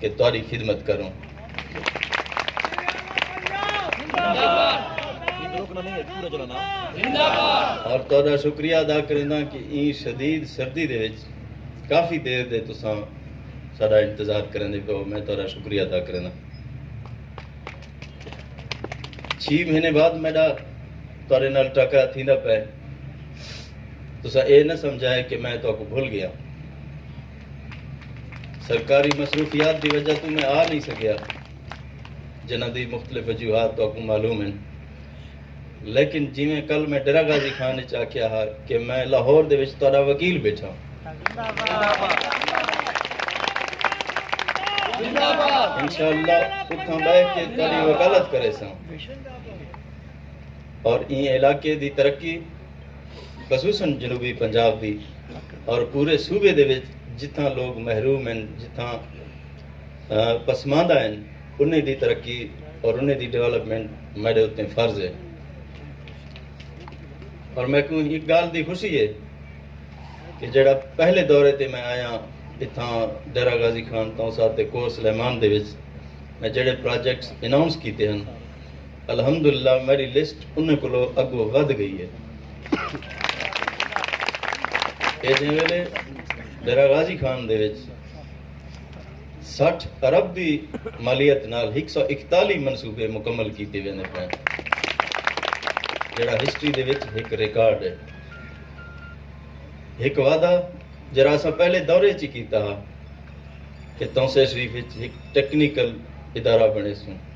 کہ تہاڈی خدمت کروں۔ اور تہاڈا شکریہ ادا کرینداں کہ ایں شدید سردی دے وچ کافی دیر دے تساں ساڈا انتظار کریندے پئے ہو۔ میں تہاڈا شکریہ ادا کرینداں۔ چھی مہینے بعد میڈا تہاڈے نال ٹاکرا تھیندا پئے۔ تساں ایہ نہ سمجھائے کہ میں تہاکوں بھل گیاں۔ سرکاری مصروفیات دی وجہ توں میں آ نئیں سگیا جنہاں دی مختلف وجوہات تہاکوں معلوم ہن لیکن جیویں کل میں ڈیرہ غازی خان وچ آکھیا ہا کہ میں لاہور دے وچ تہاڈا وکیل بیٹھا انشاءاللہ اتھاں بہ کے تہاڈی وکالت کریساں اور ایں علاقے دی ترقی خصوصا جنوبی پنجاب دی اور پورے صوبے دے وچ جتھاں لوگ محروم ہن جتھاں پسماندہ ہن انہیں دی ترقی اور انہیں دی ڈیولپمنٹ میڈے اتنے فرض ہے اور میں کو ایک گال دی خوشی ہے کہ جڑا پہلے دورے تے میں آیا اتھاں ڈیرہ غازی خان تاؤں ساتھ تے کور سلیمان دے وچ میں جڑے پروجیکٹس اناؤنس کیتے ہیں الحمدللہ میڈی لسٹ انہیں کولو اگو ودھ گئی ہے اے جیں ویلے ڈیرہ غازی خان دے وچ سٹھ ارب دی مالیت نال ہک سو اکتالی منصوبے مکمل کیتے ویندے پے جڑا ہسٹری دے وچ ہک ریکارڈ ہے ہک وعدہ جڑا اسا پہلے دورے چ کیتا ہا کہ تونسے شریف وچ ہک ٹیکنیکل ادارہ بنے سوں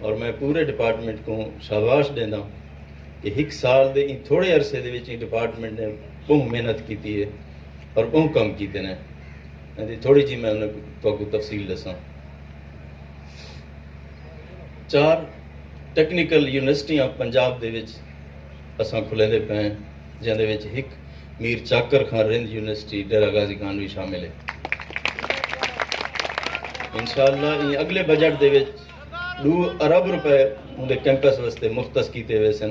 اور میں پورے ڈپارٹمنٹ کو شاباش ڈیندا کہ ہک سال دے ان تھوڑے عرصے دے وچ ان ڈپارٹمنٹ نے بہت محنت کیتی ہے اور بہت کم کیتے نے یعنی تھوڑی جی میں انہیں تو کو تفصیل دساں چار ٹیکنیکل یونیورسٹیاں پنجاب دے وچ اساں کھلے دے پے ہیں جیندے وچ ہک میر چاکر خان رند یونیورسٹی ڈیرہ غازی خان وی شامل ہے۔ انشاءاللہ ایں اگلے بجٹ دے وچ ڈو ارب روپے اوندے کیمپس واسطے مختص کیتے ویسن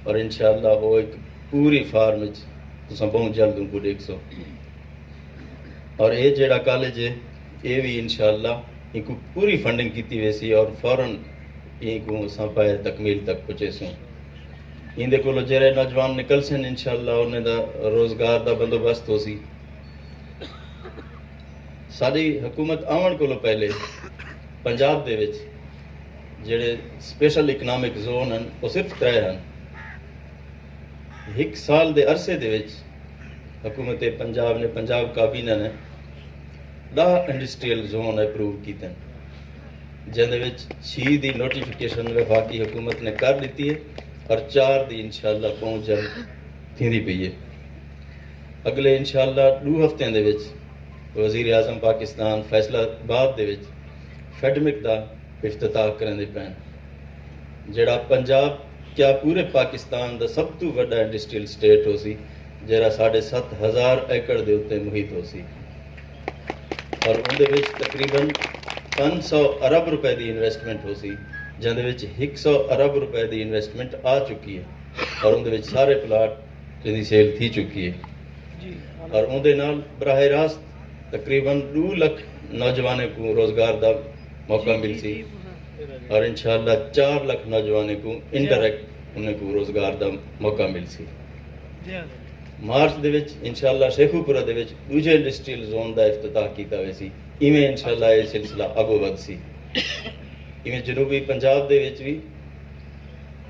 اور انشاءاللہ او ایک پوری فارم وچ تساں بہوں جلد ان کو ڈیکھ سو اور اے جیڑا کالج ہے اے وی انشاءاللہ ان کو پوری فنڈنگ کیتی ویسی اور فورن ان کو اساں پائے تکمیل تک پہنچے سوں ایندے کولو جیرھے نوجوان نکلسن انشاءاللہ انہیں دا روزگار دا بندوبست ہوسی۔ ساڈی حکومت آون کولو پہلے پنجاب دے وچ جیڑھے سپیشل اکنامک زون ہن او صرف ترے ہن۔ ہک سال دے عرصے دے وچ حکومت پنجاب نے پنجاب کابینہ نے ڈاہ انڈسٹریل زون اپروو کیتن۔ جیندے وچ چھی دی نوٹیفکیشن وفاقی حکومت نے کر ݙتی اے اور چار دی انشاءاللہ ٻہوں جلد تھیندی پئی اے۔ اڳلے انشاءاللہ ݙو ہفتیاں دے وچ وزیراعظم پاکستان فیصل آباد دے وچ فیڈمک دا افتتاح کریندے پئن جیڑھا پنجاب کیا پورے پاکستان دا سب توں وݙا انڈسٹریل اسٹیٹ ہوسی جیڑھا ساݙھے ست ہزار ایکڑ دے اتے محیط ہوسی۔ اور اوندے وچ تقریبا پنج سو ارب روپے دی انویسٹمنٹ ہوسی جیندے وچ ہک سو ارب روپے دی انویسٹمنٹ آ چکی ہے اور اوندے وچ سارے پلاٹ جیندی سیل تھی چکی ہے جی، اور اوندے نال براہ راست تقریبا دو لکھ نوجوانوں کو روزگار دا موقع جی، جی، ملسی اور انشاءاللہ چار لکھ نوجوانوں کو انڈائریکٹ انہیں کو روزگار دا موقع ملسی مارچ دے وچ انشاءاللہ شیخو پورہ دے وچ ڈوجھے انڈسٹریل زون دا افتتاح کیتا ویسی ایویں انشاءاللہ اے سلسلہ اگو ودھسی ایویں جنوبی پنجاب دے وچ وی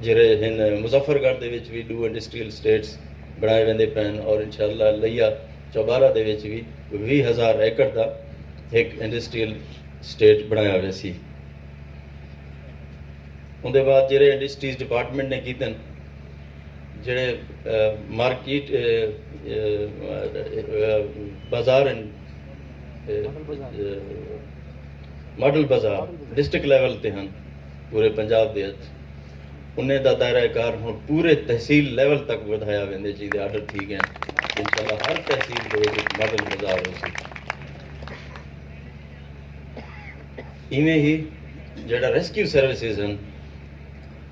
جیرے ہن مظفر گڑھ دے وچ وی ڈو انڈسٹریل اسٹیٹس بنائے ویندے پین اور انشاءاللہ لیا چوبارہ دے وچ وی ویہہ ہزار ایکڑ دا ہک انڈسٹریل اسٹیٹ بنایا ویسی اون دے بعد جیرے انڈسٹریز ڈیپارٹمنٹ نے کیتن جیڑھے مارکیٹ بازار ہن ماڈل بازار ڈسٹرکٹ لیول تے ہن پورے پنجاب دے اچ انہیں دا دائرہ کار ہن پورے تحصیل لیول تک ودھایا ویندے جی دے آرڈر تھی گئے انشاءاللہ ہر تحصیل دے وچ ایک ماڈل بازار ہو سی ایویں ہی جیڑا ریسکیو سروسز ہن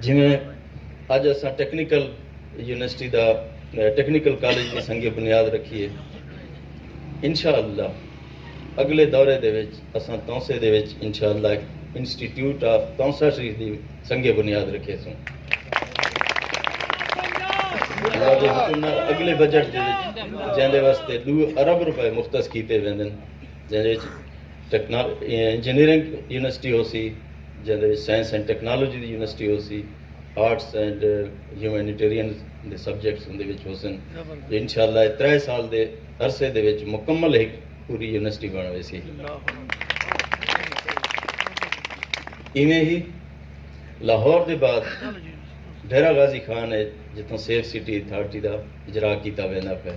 جیویں اج اساں ٹیکنیکل یونیورسٹی دا ٹیکنیکل کالج دی سنگ بنیاد رکھیے انشاءاللہ اگلے دورے دے وچ اساں تونسے دے وچ انشاءاللہ ایک انسٹیٹیوٹ آف تونسا شریف دی سنگ بنیاد رکھے سوں اگلے بجٹ دے وچ جیندے واسطے دو ارب روپے مختص کیتے ویندن جیندے وچ انجینئرنگ یونیورسٹی ہوسی جیندے وچ سائنس اینڈ ٹیکنالوجی دی یونیورسٹی ہوسی آرٹس اینڈ ہیومینیٹیرین دے سبجیکٹس اوندے وچ ہوسن تے انشاءاللہ اے ترے سال دے عرصے دے وچ مکمل ہک پوری یونیورسٹی بݨ ویسی ایویں ہی لاہور دے بعد ڈیرہ غازی خان ہے جتھوں سیف سٹی اتھارٹی دا اجرا کیتا ویندا پئے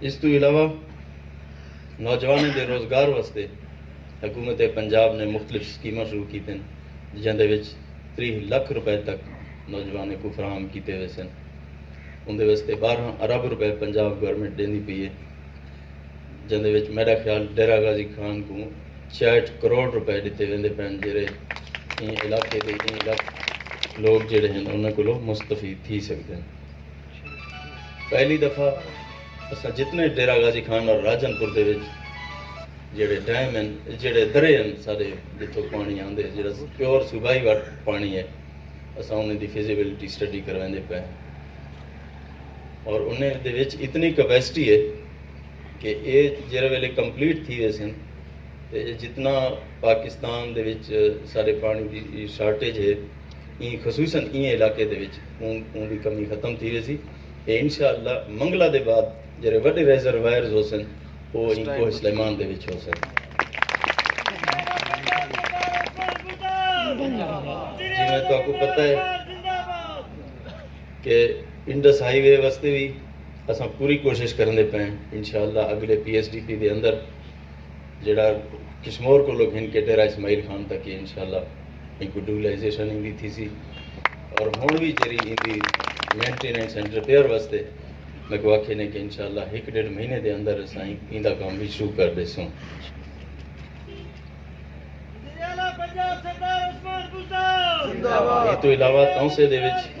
اس توں علاوہ نوجوانیں دے روزگار واسطے حکومت پنجاب نے مختلف اسکیماں شروع کیتن جیندے وچ تریہ لکھ روپے تک نوجوانیں کو فراہم کیتے ویسن اندے واسطے بارہ ارب روپے پنجاب گورنمنٹ ڈیندی پئی ہے جیندے وچ میرا خیال ڈیرہ غازی خان کو چھیاہٹھ کروڑ روپے ڈتے ویندے پن جیرے ایں علاقے دے ایں لکھ لوگ جیرے ہن انہاں کولو مستفید تھی سکدن پہلی دفعہ اساں جتنے ڈیرہ غازی خان اور راجن پور دے وچ جیڑے ڈیم ہیں جیڑے درے ہیں سارے جتھوں پانی آندے جیڑا پیور صوبائی واٹ پانی ہے اساں انہیں دی فیزیبلٹی سٹڈی کرویندے پے اور انہیں دے وچ اتنی کیپیسٹی ہے کہ اے جیرے ویلے کمپلیٹ تھی ویسن تے جتنا پاکستان دے وچ سارے پانی دی شارٹیج ہے این خصوصاً این علاقے دے وچ اون دی کمی ختم تھی ویسی تے انشاءاللہ منگلہ دے بعد جیرے وڈے ریزروائرز ہو سن او این کوہ سلیمان دے وچ ہو سن جی میں تو آپ کو پتہ ہے کہ انڈس ہائی وے وستے بھی اساں پوری کوشش کرندے پئے ہیں انشاءاللہ اگلے پی ایس ڈی پی دے اندر جڑا کشمور کو لوگ ہن کے ڈیرہ اسماعیل خان تک یہ انشاءاللہ ان کو ڈوبلائزیشن ان دی تھی سی اور ہون بھی جری ان دی مینٹیننس اینڈ ریپیئر واسطے میں کو آکھے نے کہ انشاءاللہ ایک ڈیڑھ مہینے دے اندر اساں ان دا کام بھی شروع کر دے سوں یہ تو علاوہ تاؤں سے دے وچ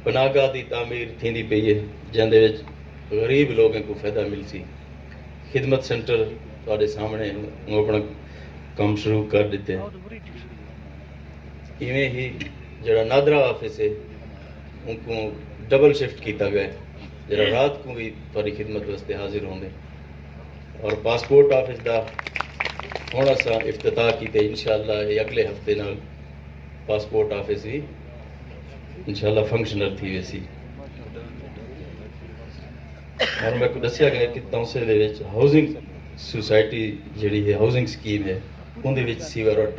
بناگاہ دی تعمیر تھیندی پئی اے جیندے وچ غریب لوگیں کوں فیدہ ملسی، خدمت سنٹر تہاڈے سامنڑے ہوں اپنڑاں کم شروع کر ڈتے ایویں ہی جیڑھا نادرا آفس اے اونکوں ڈبل شفٹ کیتا گئے جیڑھا رات کوں وی تہاڈی خدمت واسطے حاضر ہوندے اور پاسپورٹ آفس دا ہن اساں افتتاح کیتے انشاءاللہ اے اگلے ہفتے نال پاسپورٹ آفس وی انشاءاللہ فنکشنل تھی ویسی اور میں کو دسیا گیا کہ تونسے دے وچ ہاؤسنگ سوسائٹی جڑی ہے ہاؤسنگ سکیم ہے ان دے وچ سیور اور ٹرک